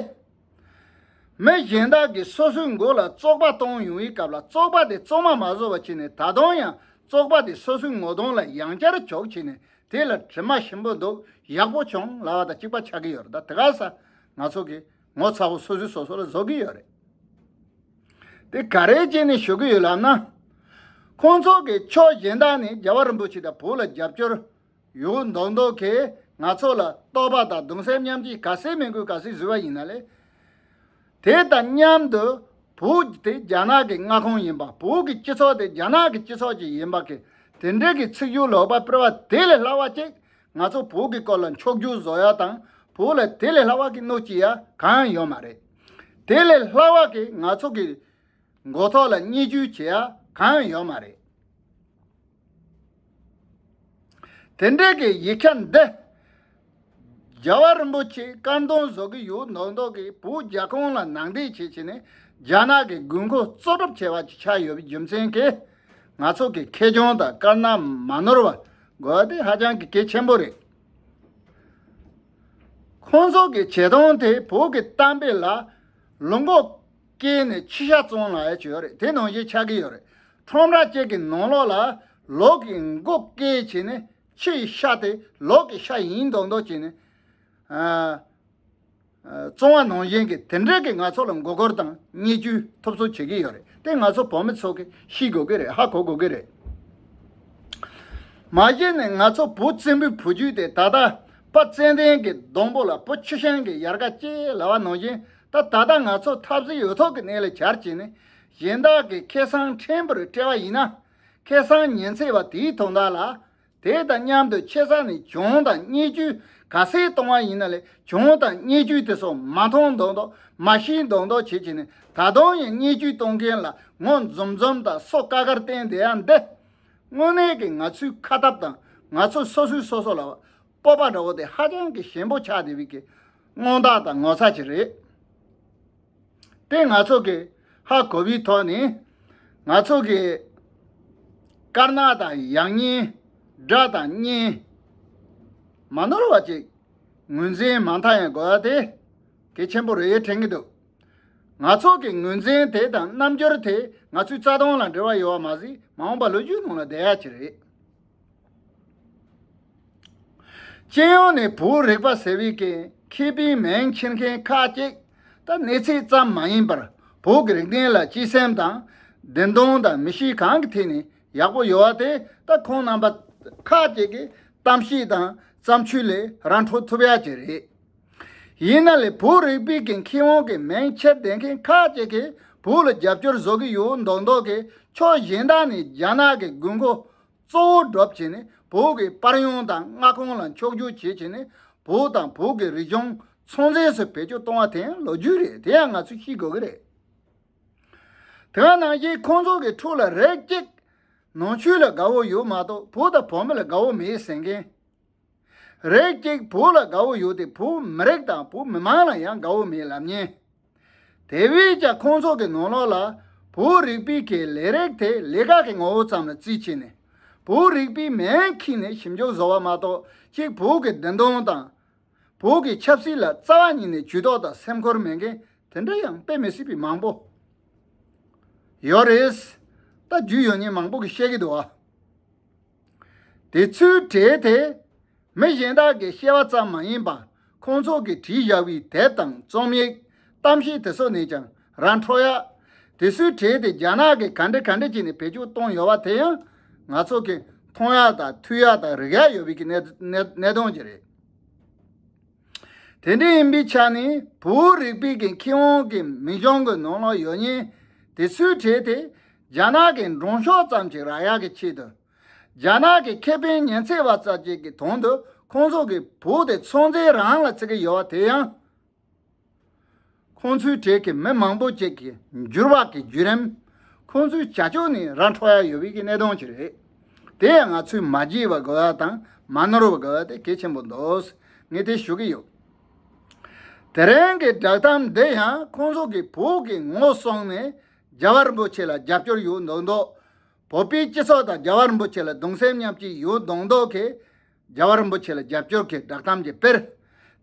མི་གཞན་དག་གིས་སོ་སོའི་མགོ་ལ་བཙོག་པ་གཏོང་ཡོང་བའི་སྐབས་ལ་བཙོག་པ་དེ་བཙོག་མ་མ་བཟོ་བར་བྱས་ནས་ད་དུང་ཡང་བཙོག་པ་དེ་སོ་སོའི་ངོ་གདོང་ལ་ཡང་བསྐྱར་འཇོག་བྱས་ནས་དེ་ལ་དྲི་མ་ཞིམ་པོ་འདུག་ཡག་པོ་བྱུང་ལ་བ་ད་གཅིག་པ་ཆགས་ཀྱི་ཡོད་རེད་ད་དེ་ག་ས་ང་ཚོ་གིས་ངོ་ཚ་བོ་སོ་སོའི་སོ་སོ་ལ་བཟོ་གི་ཡོད་རེད། དེ་ག་རེད་ཅེས་ནས་ཞུ་གི་ཡོད་ལབ་ན། ཁོང་ཚོ་གིས་ཕྱོགས་གཞན་དག་ནས་རྒྱལ་བ་རིན་པོ་ཆེ་དང་བོད་ལ་རྒྱབ་སྐྱོར། ཡོ་མདོག་མདོག་གིས་ང་ཚོ་ལ་རྟོག་པ་དང་གདུང་སེམས་མཉམ་སྐྱེས་ག་ཟེ་མི་དགོས་ག་ཟེ་བཟོས་པ་ཡིན་ན་ལེ། དེ་དང་མཉམ་དུ་བོད་དེ་རྒྱ་ནག་གི་མངའ་ཁོངས་ཡིན་པ་བོད་ཀྱི་སྤྱི་ཚོགས་དེ་རྒྱ་ནག་གི་སྤྱི་ཚོགས་ཅིག་ཡིན་པ་གི་དེ་འབྲེལ་གྱི་ཚིག་སྦྱོར་ལོག་པ་སྤེལ་བ་དེ་ལས་སླ་བ་ཅིག་ང་ཚོ་བོད་ཀྱི་སྐོར་ལ་འཁྱོག་རྒྱུག་བཟོ་ཡ་དང་བོད་ལ་དེ་ལས་སླ་བ་གི་གནོད་ཅི་ཡ་གང་ཡོད་མ་རེད། དེ་ལས་སླ་བ་གི་ང་ཚོ་གི་མགོ་ཐོག་ལ་བརྙས་བཅོས་བྱེད་ཡ་གང་ཡོད་མ་རེད། དེ་འབྲེལ་གྱི་ཡིག་ཆ་འདི། རྒྱལ་བ་རིན་པོ་ཆེ་བཀའ་མདུན་བཟོ་གི་ཡུལ་མདོ་མདོ་གི་བུ་རྒྱ་ཁོང་ལ་ནང་འདྲེན་བྱེད་ཆེད་ནས་རྒྱ་ནག་གི་དགོས་མཁོ་གཙོ་སྒྲུབ་བྱས་པ་ཅིག་ཆགས་ཡོད་པའི་རྒྱུ་མཚན་གྱིས། ང་ཚོ་གི་ཁེ་གྱོང་དང་དཀར་ནག་མ་ནོར་བ་དགོས་པ་དེ་ཧ་ཅང་གི་གལ་ཆེན་པོ་རེད། ཁོང་ཚོ་གི་བྱེད་སྟངས་དེ་བོད་ཀྱི་གཏམ་དཔེ་ལ། ལུག་མགོ་སྐྱེས་ནས་ཁྱི་ཤ་བཙོང་ལ་ཡ་བྱོས་རེད་དེ་ནང་བཞིན་ཆགས་ཀྱི་ཡོད་རེད། ཁྲོམ་ར་བཅས་ཀྱི་ནང་ལོགས་ལ་ལོགས་ཀྱི་མགོ་སྐེ་བྱས་ནས་ཕྱི་ཡི་ཤ་དེ་ལོགས་ཀྱི་ཤ་ཡིན་མདོག་མདོག་བྱས་ནས། ཙོང་བ་ནང་བཞིན་གྱི་དེ་འདྲས་ཀྱི་ང་ཚོ་ལ་མགོ་སྐོར་དང་བརྙས་བཅོས་ཐོབ་གསོ་བྱེད་ཀྱི་ཡོད་རེད་དེ་ང་ཚོ་བོད་མི་ཚོ་གི་ཤི་དགོས་ཀྱི་རེད་ཧ་གོ་དགོས་ཀྱི་རེད། མ་གཞི་ནས་ང་ཚོ་བོད་བཙན་པོའི་བུ་རྒྱུད་དེ་ད་ལྟ་དཔའ་བཙན་ལྡན་གྱི་སྡོང་པོ་ལ་བོད་ཆུ་ཤིང་གི་ཡར་ཀ་ཅེས་ལ་བ་ནང་བཞིན་ད་ད་ལྟ་ང་ཚོ་འཐབ་ཟིལ་ཡོད་ཐོག་གི་གནས་ལ་གྱར་བྱས་ནས་གཞན་དག་གིས་ཁེ་བཟང་ཕྲན་བུར་སྤྲད་པ་ཡིན་ན། ཁེ་བཟང་ཉེན་ཚད་པ་དེའི་དོ་བདག་ལ། དེ་དང་མཉམ་དུ་ཆེ་ས་ནས་གྱོང་དང་བརྙས་བཅོས་ག་ཚད་གཏོང་བ་ཡིན་ན་ལས་གྱོང་དང་བརྙས་བཅོས་དེ་སོགས་མ་མཐོང་མདོག་མདོག་མ་ཤེས་མདོག་མདོག་བྱེད་བྱེད་ནས་ད་དུང་ཡང་བརྙས་བཅོས་གཏོང་མཁན་ལ་ངོ་འཛོམས་འཛོམས་དང་སོ་དཀར་དཀར་བསྟན་བསྡད་ཡ་འདི། དངོས་གནས་ཀྱི་ང་ཚོའི་ཁ་སྟབས་དང་ང་ཚོ་སོ་སོའི་སོ་སོ་ལ་སྤོབས་པ་འདྲ་བོ་དེ་ཧ་ཅང་གི་ཞན་པོ་ཆགས་བསྡད་པའི་དངོས་རྟགས་དང་ངོ་ཚ་ཅིག་རེད། པས་ང་ཚོ་གི་ཧ་གོ་བའི་ཐོག་ནས་ང་ཚོ་གི་དཀར་ནག་དང་ཡག་ཉེས་དགྲ་དང་གཉེན་མ་ནོར་བ་ཅིག་ངོས་འཛིན་མ་མཐའ་ཡང་དགོས་པ་དེ་གལ་ཆེན་པོ་རེད་དྲན་གྱི་འདུག་ང་ཚོ་གི་ངོས་འཛིན་དེ་དང་རྣམ་འགྱུར་དེ་ང་ཚོའི་རྩ་དོན་ལ་འབྲེལ་བ་ཡོད་པ་མ་ཟད་མ་འོངས་པ་ལོ་རྒྱུས་ནང་ལ་བསྡད་ཡག་ཅིག་རེད། སྤྱི་ཡོངས་ནས་བོད་རིག་པ་ཟེར་བའི་གན་མཁས་པའི་མིང་འཁྱེར་མཁན་ཁག་ཅིག་ད་གནས་ཚད་ཙམ་མ་ཡིན་པར་བོད་ཀྱི་རིག་གནས་ལ་སྤྱི་སེམས་དང། བདེན་དོན་དང་མི་གཤིས་གང་གི་ཐད་ནས་ཡག་པོ་ཡོད་བ་དེ་ད་ཁོང་རྣམ་པ་ཁག་ཅིག་གི་གཏམ་བཤད་དང་བརྩམས་ཆོས་ལས་རང་འཕྲོ་ཐུབ་ཡག་ཅིག་རེད། ཡིན་ན་ལས་བུ་རིག་པའི་གིང་ཁེ་དབང་གི་མིང་ཕྱིར་ལྡན་མཁན་ཁག་ཅིག་གིས་བོད་ལ་རྒྱབ་སྐྱོར་བཟོ་གི་ཡོད་མདོག་མདོག་གིས་ཕྱོགས་གཞན་དག་ནས་རྒྱ་ནག་གི་དགོས་མཁོ་གཙོ་བོ་སྒྲུབ་བྱེད་ནི་བོད་ཀྱི་དཔར་ཡོང་དང་མངའ་ཁོངས་ལ་འཁྱོག་བརྗོད་བྱེད་བྱེད་ནི་བོད་དང་བོད་ཀྱི་རིག་གཞུང་ཚོང་རྫས་སུ་བེད་སྤྱོད་གཏོང་བ་དེ་ཡང་ལོ་རྒྱུས་རེད་དེ་ཡང་ང་ཚོས་ཤེས་དགོས་ཀྱི་རེད། དེའང་ནང་བཞིན་ཁོང་ཚོ་གི་ཕྲུག་ལ་རེག་ཅིག། ནང་ཆོས་ལ་དགའ་བོ་ཡོད་མ་གཏོགས་བུ་དང་བུ་མོ་ལ་དགའ་བོ་མེད་ཟེར་མཁན། རེད་ཅིག་བོད་ལ་དགའ་བོ་ཡོད་དེ་བོད་མི་རིགས་དང་བོད་མི་དམངས་ལ་ཡང་དགའ་བོ་མེད་ལབ་ཉེན། དེ་བས་ཀྱང་ཁོང་ཚོ་གི་ནོར་ལོག་ལ་བོད་རིག་པའི་གི་ལས་རེག་དེ་ལས་ཀ་གི་ངོ་བོ་ཙམ་ལ་བརྩིས་བྱས་ནས་བོད་རིག་པའི་མེན་ཁིང་ནས་ཞིབ་འཇུག་བཟོ་བ་མ་གཏོགས་ཅིག་བོད་གི་བདེན་དོན་དང། བོད་གི་ཆབ་སྲིད་ལ་རྩ་བ་ཉིད་ནས་ཇུས་ཏོག་དང་སེམས་ཁུར་མེད་མཁན་དེ་འདྲ་ཡང་དཔེ་མི་སྲིད་པའི་མང་པོ་ཡོད་རེད། ད་རྒྱུས་ཡོད་ཉེན་མང་པོ་གི་བཤད་གི་འདུག་ཨ། དེ་ཚོའི་གྲས་དེ་མི་གཞན་དག་གིས་ཤེས་པ་ཙམ་མ་ཡིན་པར་ཁོང་ཚོ་གིས་བྲིས་བཞག་པའི་དེབ་དང་རྩོམ་ཡིག་གཏམ་བཤད་དེ་ཚོ་ནས་ཀྱང་རང་འཕྲོ་ཡག་དེ་ཚོའི་གྲས་དེ་རྒྱ་ནག་གིས་ག་འདྲི་ག་འདྲི་བྱས་ནས་བེད་སྤྱོད་བཏང་ཡོད་པ་དེ་ཡང་ང་ཚོ་གིས་མཐོང་ཡག་དང་ཐོས་ཡག་དང་རིག་ཡག་ཡོད་པའི་གནད་དོན་ཅིག་རེད། དེ་འདྲ་ཡིན་པའི་ཆ་ནས་བོད་རིག་པའི་གི་ཁེ་དབང་གི་མི་གཞུང་གི་ནང་ལ་ཡོད་ཉེན་དེ་སུས་བྲལ་ཏེ་རྒྱ་ནག་གི་མགྲོན་ཤོག་ཙམ་གྱི་རག་ཡ་གི་ཆེད་དུ། རྒྱ་ནག་གི་ཁེ་ཕན་ཉེན་ཚད་བ་ཙག་ཅིག་གི་དོན་དུ་ཁོང་ཚོ་གི་བོད་དེ་ཚོང་རྫས་རང་ལ་བརྩི་གི་ཡོད་བ་དེ་ཡང། ཁོང་ཚོའི་གྲས་ཀྱི་མི་མང་པོ་བཅས་ཀྱི་འགྱུར་བག་གི་བརྒྱུད་རིམ། ཁོང་ཚོའི་བྱ་སྤྱོད་ནི་ར་འཕྲོ་ཡ་ཡོད་པའི་གནད་དོན་ཅིག་རེད། དེ་ཡང་ང་ཚོས་མ་བརྗེད་པར་དགོས་པ་དང་མ་ནོར་བར་དགོས་པ་དེ་གལ་ཆེན་པོ་འདུག་ངས་དེ་ཞུ་གི་ཡོད། དེ་རིང་གི་བསྒྲགས་གཏམ་འདི་ཡང་ཁོང་ཚོ་གི་བོད་ཀྱི་ངོ་སོང་ནས་རྒྱ་གར་རིན་པོ་ཆེ་ལ་རྒྱབ་སྐྱོར་ཡོད་མདོག་མདོག། བོད་པའི་སྤྱི་ཚོགས་དང་རྒྱ་གར་རིན་པོ་ཆེ་ལ་གདུང་སེམས་མཉམ་སྐྱེད་ཡོད་མདོག་མདོག་གིས། རྒྱལ་བ་རིན་པོ་ཆེ་ལ་རྒྱབ་སྐྱོར་གྱི་བསྒྲགས་གཏམ་གྱི་དཔེར།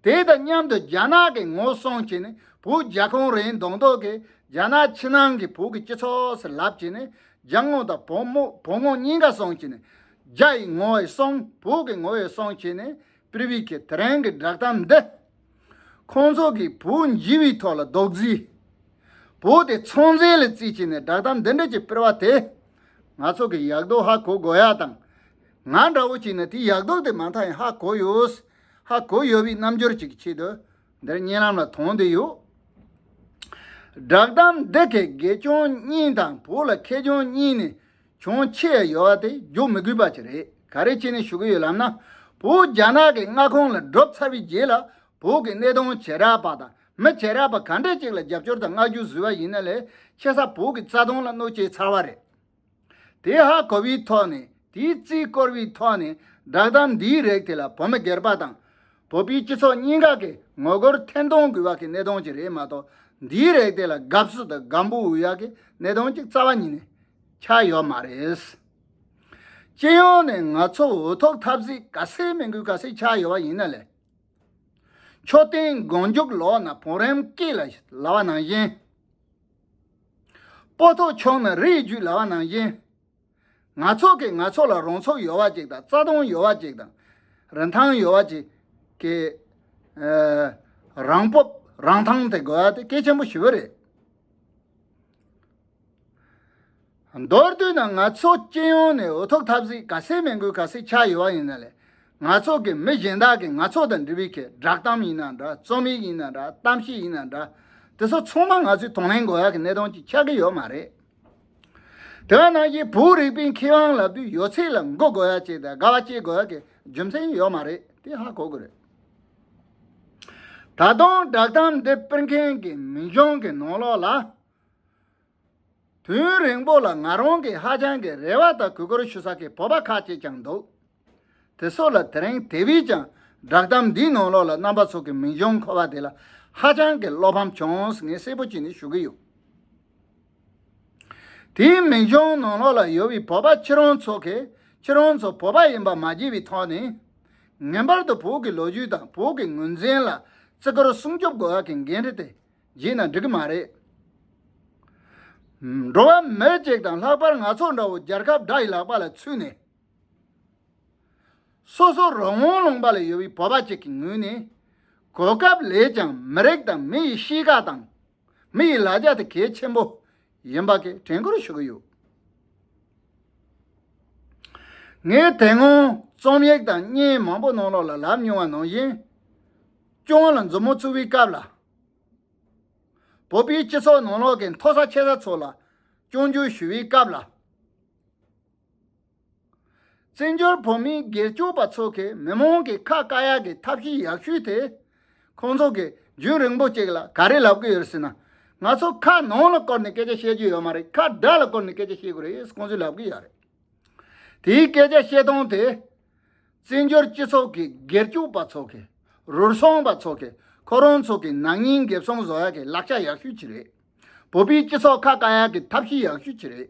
དེ་དང་མཉམ་དུ་རྒྱ་ནག་གི་ངོ་སྲུང་བྱས་ནས་བོད་རྒྱ་གོང་རིམ་གདོང་ཐོག་གི་རྒྱ་ནག་ཕྱི་ནང་གི་བོད་ཀྱི་སྤྱི་ཚོགས་ཟེར་ལབ་བྱས་ནས་རྒྱ་ངོ་དང་བོད་མོ་བོད་ངོ་གཉིས་ཀ་སྲུང་བྱས་ནས། རྒྱ་ཡི་ངོ་ཡི་སྲུང་བོད་ཀྱི་ངོ་ཡི་སྲུང་བྱས་ནས་པིར་བྷི་ཁེ་དེ་རིང་གི་བསྒྲགས་གཏམ་འདི། ཁོང་ཚོ་གིས་བོད་འཇི་བའི་ཐོག་ལ་རྡོག་བརྫིས། བོད་དེ་ཚོང་རྫས་ལ་བརྩིས་བྱས་ནས་བསྒྲགས་གཏམ་འདི་འདྲ་ཅིག་སྤེལ་བ་དེས། ང་ཚོ་གི་ཡག་རྡོ་ཧ་གོ་དགོས་ཡ་དང། ང་འདྲ་བོ་ཅིག་ནི་དེ་ཡག་མདོག་དེ་མ་མཐའ་ཡང་ཧ་གོ་ཡོད། ཧ་གོ་ཡོད་པའི་རྣམ་འགྱུར་ཅིག་གི་ཆེད་དུ་འདིར་བརྙན་ལམ་ལ་དོང་བསྡུས་ཡོད། བསྒྲགས་གཏམ་འདི་གའི་དགེ་སྐྱོན་གཉིས་དང་བོ་ལ་ཁེ་སྐྱོན་གཉིས་ནི་ཅུང་ཆེ་ཡ་ཡོད་པ་དེ་རྒྱུགས་མི་དགོས་པ་ཅིག་རེད་ག་རེ་བྱས་ནས་ཞུ་གི་ཡོད་ལབ་ན། བོད་རྒྱ་ནག་གི་མངའ་ཁོངས་ལ་འབྲོབ་ཚར་བའི་རྗེས་ལ་བོད་ཀྱི་གནས་སྟངས་བྱེ་བྲག་པ་དང་མི་བྱེ་བྲག་པ་ག་འདྲ་ཅིག་ལ་རྒྱབ་སྐྱོར་དང་བསྔགས་བརྗོད་བཟོས་པ་ཡིན་ན་ལས་ཆེ་ས་བོད་ཀྱི་རྩ་དོན་ལ་གནོད་བྱས་ཚར་བ་རེད། དེ་ཧ་གོ་བའི་ཐོག་ནས་དེའི་རྩིས་བསྐོར་བའི་ཐོག་ནས་བསྒྲགས་གཏམ་འདིའི་རེག་དེ་ལ་བོད་མི་སྒེར་པ་དང། བོད་པའི་སྤྱི་ཚོགས་གཉིས་ཀ་གི་ངོ་རྒོལ་འཐེན་གཏོང་དགོས་བ་གི་གནད་དོན་གཅིག་རེད་མ་གཏོགས་འདིའི་རེག་དེ་ལ་དགའ་བསུ་དང་དགའ་འབོད་འོས་ཡག་གི་གནད་དོན་གཅིག་རྩ་བ་ཉིད་ནས་ཆགས་ཡོད་མ་རེད། སྤྱི་ཡོངས་ནས་ང་ཚོ་འོས་ཐོབ་ཐབས་གཟིགས་དཀའ་སེལ་མི་དགོས་དཀའ་སེལ་ཆགས་ཡོད་བ་ཡིན་ན་ལས། མཆོད་རྟེན་མགོ་མཇུག་ལོག་ན་བོང་རིམ་སྐེད་ལ་ལ་བ་ནང་བཞིན། པོ་ཐོག་ཆོག་ན་རི་ཡི་རྒྱུད་ལ་བ་ནང་བཞིན། ནག་ཚོགས་ཀྱིས་ནག་ཚོགས་ལ་རོང་ཚོགས་ཡོལ་བ་ཅིག་དང་རྩ་སྟོང་ཡོལ་བ་ཅིག་དང། རིན་ཐང་ཡོལ་བ་ཅིག་གི། རང་སྤོབས་རང་ཐང་དེ་དགོས་བ་དེ་སྐད་ཆེན་པོ་ཞི་བོ་རེད། མདོར་བསྡུས་ན་ང་ཚོ་སྤྱི་ཡོངས་ནས་འོས་ཐོབ་ཐབས་གཟིགས་ག་སེ་མེད་འགུལ་ག་སེ་ཆགས་ཡོད་བ་ཡིན་ན་ལས་ང་ཚོ་གི་མི་གཞན་དག་གིས་ང་ཚོ་དང་འབྲེལ་བའི་ཁེ་བསྒྲགས་གཏམ་ཡིན་ན་འདྲ་རྩོམ་ཡིག་ཡིན་ན་འདྲ་གཏམ་བཤད་ཡིན་ན་འདྲ་དེ་ཚོ་ཚང་མ་ང་ཚོའི་དང་ལེན་དགོས་ཡག་གི་གནད་དོན་གཅིག་ཆགས་ཀྱི་ཡོད་མ་རེད། དེ་བས་ན་གཞིས་བུ་རིག་པའི་མཁས་དབང་ལབ་དུས་ཡོད་ཚད་ལ་མགོ་དགོས་ཡག་བྱས་ཏེ་དགའ་བ་སྐྱེ་དགོས་ཡག་གི་རྒྱུ་མཚན་ཡོད་མ་རེད་དེ་ཧ་གོ་དགོས་རེད། ད་དུང་བསྒྲགས་གཏམ་འདི་སྤེལ་མཁན་གྱི་མི་གཞོན་གྱི་ནང་ལོགས་ལ། དུས་རིང་པོ་ལ་ང་རང་གིས་ཧ་ཅང་གི་རེ་བ་དང་གུས་བཀུར་ཞུ་ས་ཀྱི་བོད་པ་ཁག་ཅིག་ཀྱང་འདུག་དེ་སོགས་ལ་དེ་རིང་དེ་བས་ཀྱང་བསྒྲགས་གཏམ་འདིའི་ནང་ལོགས་ལ་རྣམ་པ་ཚོགས་ཀྱི་མིང་བྱང་འཁོད་པ་དེ་ལ་ཧ་ཅང་གི་བློ་ཕམ་བྱུང་ངས་གསལ་པོ་གཅིག་ནི་ཞུ་གི་ཡོད། དེའི་མིང་བྱང་ནང་ལོགས་ལ་ཡོད་པའི་བོད་པ་ཁྱེད་རང་ཚོ་གིས་ཁྱེད་རང་ཚོ་བོད་པ་ཡིན་པ་མ་བརྗེད་པའི་ཐོག་ནས། ངེས་པར་དུ་བོད་ཀྱི་ལོ་རྒྱུས་དང་བོད་ཀྱི་ངོས་འཛིན་ལ་བརྩི་བཀུར་སྲུང་སྐྱོབ་དགོས་ཀྱི་འགན་འཁྲི་དེ་བརྗེད་ན་འགྲིག་གི་མ་རེད། འགྲོ་བ་མི་གཅིག་དང་ལྷག་པར་ང་ཚོ་འདྲ་བོ་རྒྱལ་ཁབ་དགྲ་ཡི་ལག་པ་ལ་ཚུད་ནས། སོ་སོ་རང་དབང་ལུང་པ་ལ་ཡོད་པའི་བོད་པ་གཅིག་གི་ངོས་ནས། གོ་སྐབས་ལས་ཀྱང་མི་རིགས་དང་མི་ཡི་གཤིས་ཀ་དང། མི་ཡི་ལ་རྒྱ་དེ་གལ་ཆེན་པོ་ཡིན་པ་གི་དྲན་སྐུལ་ཞུ་གི་ཡོད། ངས་དེ་སྔོན་རྩོམ་ཡིག་དང་བརྙན་མང་པོ་གནང་ལོག་ལ་ལབ་མྱོང་བ་ནང་བཞིན། སྐྱོང་ལ་མཛུབ་མོ་བཙུགས་པའི་སྐབས་ལ། བོད་པའི་སྤྱི་ཚོགས་ནང་ལོག་གི་མཐོ་ས་ཆེ་ས་ཚོ་ལ་སྐྱོང་རྒྱུ་ཞུ་བའི་སྐབས་ལ། བཙན་བྱོལ་བོད་མིའི་སྒེར་གཅོད་པ་ཚོ་གིས་མི་མང་གི་ཁ་བཀག་ཡག་གི་ཐབས་ཤེས་ཡག་ཤོས་དེ། ཁོང་ཚོ་གིས་རྒྱུན་རིང་པོ་གཅིག་ལ་ག་རེ་ལབ་གི་ཡོད་ཟེར་ན། ང་ཚོ་ཁ་ནང་ལ་བསྐོར་ནས་སྐད་ཆ་བཤད་རྒྱུ་ཡོད་མ་རེད་ཁ་དགྲ་ལ་བསྐོར་ནས་སྐད་ཆ་བཤད་དགོས་རེད་ཁོང་ཚོས་ལབ་གི་ཡོད་རེད། དེའི་སྐད་ཆ་བཤད་སྟངས་དེ། བཙན་བྱོལ་སྤྱི་ཚོགས་ཀྱི་སྒེར་གཅོད་པ་ཚོ་གིས་རུལ་སོང་པ་ཚོ་གིས་ཁོ་རང་ཚོ་གི་ནག་ཉེས་འགེབས་སོང་བཟོ་ཡག་གི་ལག་ཆ་ཡག་ཤོས་གཅིག་རེད། བོད་པའི་སྤྱི་ཚོགས་ཁ་བཀང་ཡག་གི་ཐབས་ཤེས་ཡག་ཤོས་ཅི་རེད།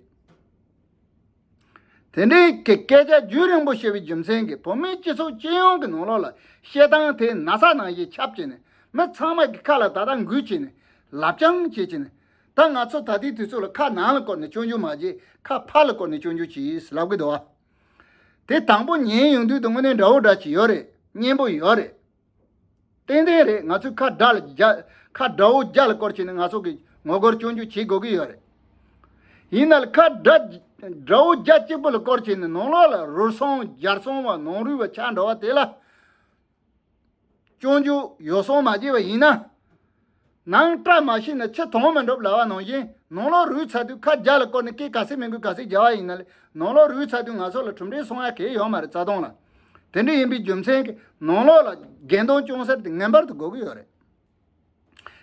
དེ་འདྲའི་སྐད་ཆ་རྒྱུན་རིང་པོ་བཤད་པའི་རྒྱུ་མཚན་གྱིས་བོད་མིའི་སྤྱི་ཚོགས་སྤྱི་ཡོངས་ཀྱི་ནང་ལོགས་ལ་བཤད་སྟངས་དེ་ན་ཚ་ནང་བཞིན་ཁྱབ་ཅེས་ནས་མི་ཚང་མ་གི་ཁ་ལ་ད་ལྟ་འགུལ་བྱས་ནས་ལབ་རྐྱང་བྱེད་ཅེས་ནས་ད་ང་ཚོ་ད་ལྟའི་དུས་ཚོད་ལ་ཁ་ནང་ལ་བསྐོར་ནས་སྤྱོད་འཇུག་མ་བྱེད་ཁ་ཕར་ལ་བསྐོར་ནས་སྤྱོད་འཇུག་བྱེད་ལབ་གི་འདུག་བ། དེ་དང་པོ་ཉན་ཡོང་དུས་དང་དངོས་གནས་འདྲ་བོ་འདྲ་ཞིག་ཡོད་རེད་སྙན་པོ་ཡོད་རེད། ཏན་ཏན་རེད་ང་ཚོས་ཁ་དགྲ་ལ་རྒྱ་ཁ་དགྲ་བོ་རྒྱ་ལ་སྐོར་བྱས་ནས་ང་ཚོ་གི་ངོ་རྒོལ་སྐྱོན་བརྗོད་བྱེད་དགོས་ཀྱི་ཡོད་རེད། ཡིན་ནལ་ཁ་དགྲ་དགྲ་བོ་རྒྱ་གཅིག་པོ་ལ་སྐོར་བྱས་ནས་ནང་ལོག་ལ་རུལ་སོང་འཇར་སོང་བ་ནང་རུལ་བ་ཆགས་འགྲོ་བ་དེ་ལ་སྐྱོན་བརྗོད་ཡོ་སྲོང་མ་བྱེད་པ་ཡིན་ན། ནང་བཀྲ་མ་ཤིས་ནས་ཆུ་དྭངས་མ་འགྲུབ་ལ་བ་ནང་བཞིན་ནང་ལོགས་རུས་ཚ་དུས་ཁ་རྒྱ་ལ་བསྐོར་ནས་སྐད་ག་སེ་མི་འགུལ་ག་སེ་རྒྱ་བ་ཡིན་ན་ལས་ནང་ལོགས་རུས་ཚ་དུས་ང་ཚོ་ལ་གྲུམ་འབྲས་སོང་ཡ་གས་ཡོད་མ་རེད་རྩ་སྟོང་ལ་དེ་འདྲ་ཡིན་པའི་རྒྱུ་མཚན་གྱིས་ནང་ལོགས་ལ་རྒྱན་སྟོང་ཅུང་ཟད་དེ་ངན་པར་དུ་འགོ་གི་ཡོད་རེད།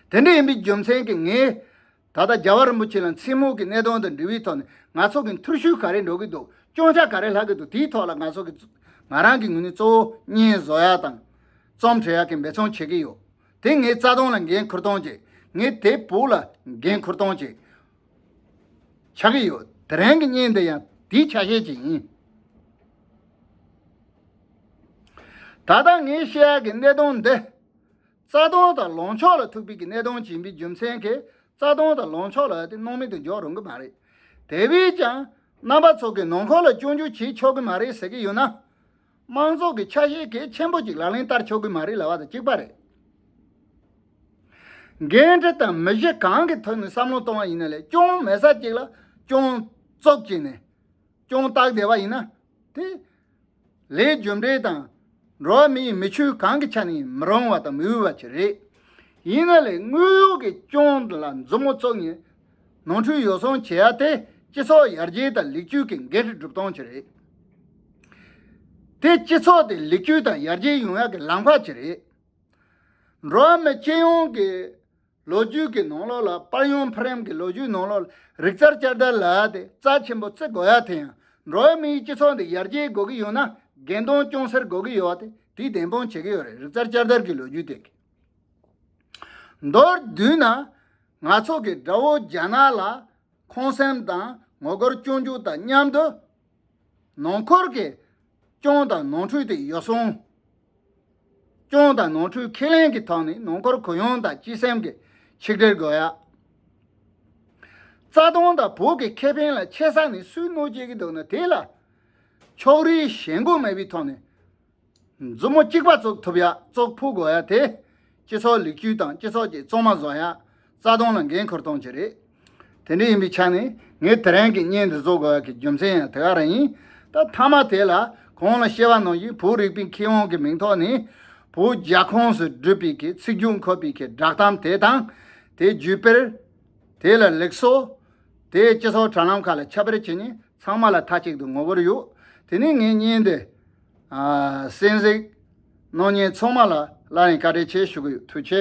དེ་འདྲ་ཡིན་པའི་རྒྱུ་མཚན་གྱིས་ངས་ད་ལྟ་རྒྱལ་བ་རིན་པོ་ཆེ་ལ་མཚན་མོ་གི་གནད་དོན་དང་འབྲེལ་བའི་ཐོག་ནས་ང་ཚོ་གི་འཐུར་ཤུལ་ག་རེ་འགྲོ་གི་འདུག་སྐྱོན་ཆ་ག་རེ་ལྷག་གི་འདུག་དེའི་ཐོག་ལ་ང་ཚོ་གི་ང་རང་གི་ངོས་ནས་གཙོ་བོ་བརྙན་བཟོ་ཡ་དང་རྩོམ་འབྲི་ཡ་གིས་འབད་བརྩོན་བྱེད་ཀྱི་ཡོད། དེ་ངའི་རྩ་དོན་ལ་འགན་ཁུར་གཏོང་བྱེད། ངས་དེ་བོད་ལ་འགན་ཁུར་གཏོང་བྱེད། ཆགས་ཀྱི་ཡོད། དེ་རིང་གི་བརྙན་འདི་ཡང་དེའི་ཆ་ཤས་ཅིག་ཡིན། ད་ལྟ་ངས་བཤད་ཡག་གི་གནད་དོན་འདི། རྩ་དོན་དང་ལངས་ཕྱོགས་ལ་ཐུག་པའི་གནད་དོན་བྱིན་པའི་རྒྱུ་མཚན་གྱིས་རྩ་དོན་དང་ལངས་ཕྱོགས་ལ་ཨ་ཏི་སྣང་མེད་དུ་འཇོག་རུང་གི་མ་རེད། དེ་བས་ཀྱང་རྣམ་པ་ཚོ་གིས་ནང་འཁོར་ལ་སྐྱོན་བརྗོད་བྱེད་ཆོག་གི་མ་རེད་ཟེར་གྱི་ཡོད་ན། དམངས་ཚོགས་ཀྱི་ཆ་ཤས་གལ་ཆེན་པོ་གཅིག་ལག་ལེན་བསྟར་ཆོག་གི་མ་རེད་ལབ་པ་དང་གཅིག་པ་རེད། འགན་འཁྲི་དང་མི་གཞི་གང་གི་ཐོག་ནས་བསམ་བློ་གཏོང་བ་ཡིན་ན་ལས་སྐྱོང་མེད་ས་གཅིག་ལ་སྐྱོང་བཙོག་བྱས་ནས་སྐྱོང་རྟགས་བསྡད་པ་ཡིན་ན་དེ་ལས་རྒྱུ་འབྲས་དང་འགྲོ་བ་མིའི་མི་ཆོས་གང་གི་ཆ་ནས་ཡིན་མི་རུང་བ་དང་མི་འོས་པ་ཅིག་རེད། ཡིན་ན་ལས་དངོས་ཡོད་ཀྱི་སྐྱོང་ལ་མཛུབ་མོ་བཙུགས་ནས། ནོར་འཁྲུལ་ཡོ་བསྲང་བྱེད་ཡག་དེ་སྤྱི་ཚོགས་ཡར་རྒྱས་དང་ལེགས་བཅོས་ཀྱི་འགན་འཁྲི་སྒྲུབ་སྟངས་ཀྱི་རེད་དེ། སྤྱི་ཚོགས་དེ་ལེགས་བཅོས་དང་ཡར་རྒྱས་ཡོང་ཡག་གི་ལམ་བར་གྱི་རེད། འགྲོ་བ་མི་སྤྱི་ཡོངས་ཀྱི་ལོ་རྒྱུས་ཀྱི་ནང་ལོགས་ལ་དཔར་ཡོང་ཕ་རན་གྱི་ལོ་རྒྱུས་ནང་ལོགས་ལ་རིག་རྩལ་བསྐྱར་དར་ལ་དེ་རྩ་ཆེན་པོ་བརྩི་དགོས་ཡག་དེ་ཡང་འགྲོ་བ་མིའི་སྤྱི་ཚོགས་འདི་ཡར་རྒྱས་དགོས་ཀྱི་ཡོད་ན་འགལ་འདུང་ཅུང་ཟེར་དགོས་ཀྱི་ཡོད་དེ་དེ་བདེན་དཔང་བྱེད་ཀྱི་ཡོད་རེད་རིག་རྩལ་བསྐྱར་དར་གྱི་ལོ་རྒྱུས་དེ་གི། མདོར་བསྡུས་ན། ང་ཚོ་གི་དགྲ་བོ་རྒྱ་ནག་ལ་ཁོང་སེམས་དང་ངོ་རྒོལ་སྐྱོང་རྒྱུ་དང་མཉམ་དུ། ནང་འཁོར་གྱི་སྐྱོང་དང་ནོར་འཁྲུལ་དེ་ཡོ་བསྲང། སྐྱོང་དང་ནོར་འཁྲུལ་ཁས་ལེན་གྱི་ཐོག་ནས་ནང་འཁོར་གུ་ཡངས་དང་སྤྱི་སེམས་ཀྱི་ཆིག་སྒྲིལ་དགོས། རྩ་དོན་དང་བོད་ཀྱི་ཁེ་ཕན་ལ་ཆེ་ས་ནས་སུས་གནོད་བྱེད་ཀྱི་འདུག་ན་དེ་ལ་ཕྱོགས་རིས་ཞེན་དགུ་མེད་པའི་ཐོག་ནས། མཛུབ་མོ་གཅིག་པ་བཙོག་ཐུབ་ཡ་བཙོག་ཕུག་གོ་ཡ་དེ་སྤྱི་ཚོགས་ལེགས་བཅོས་དང་སྤྱི་ཚོགས་ཀྱི་བཙོག་མ་བཟོ་ཡ་རྩ་སྟོང་ལ་འགན་འཁུར་སྟོང་བྱེད་རེད། དེ་འདྲ་ཡིན་པའི་ཆ་ནས་ངས་དེ་རང་གི་བརྙན་འདི་བཟོ་དགོས་ཡ་གི་རྒྱུ་མཚན་ཡང་དེ་ག་རང་ཡིན། ད་མཐའ་མ་དེ་ལ་གང་ལ་ཤེས་པ་ནང་བཞིན་བོད་རིག་པའི་མཁས་དབང་གི་མིང་ཐོག་ནས་བོད་རྒྱ་ཁོངས་སུ་བསྒྲུབས་པའི་གི་ཚིག་རྒྱུགས་འཁོད་པའི་གི་བསྒྲགས་གཏམ་དེ་དང་དེའི་བརྒྱུད་སྤེལ། དེ་ལ་ལེགས་སོ། དེས་སྤྱི་ཚོགས་དྲ་ལམ་ཁག་ལ་ཁྱབ་སྤེལ་བྱས་ནས་ཚང་མ་ལ་མཐའ་གཅིག་ཏུ་ངོ་བོར་ཡོད། དེ་ནས་ངས་བརྙན་འདི། གསན་གཟིགས། གནོད་ཉེན་ཚོགས་མ་ལ་སླར་ཡང་བཀའ་དྲིན་ཆེ་ཞུ་གི་ཡོད་ཐུགས་ཆེ།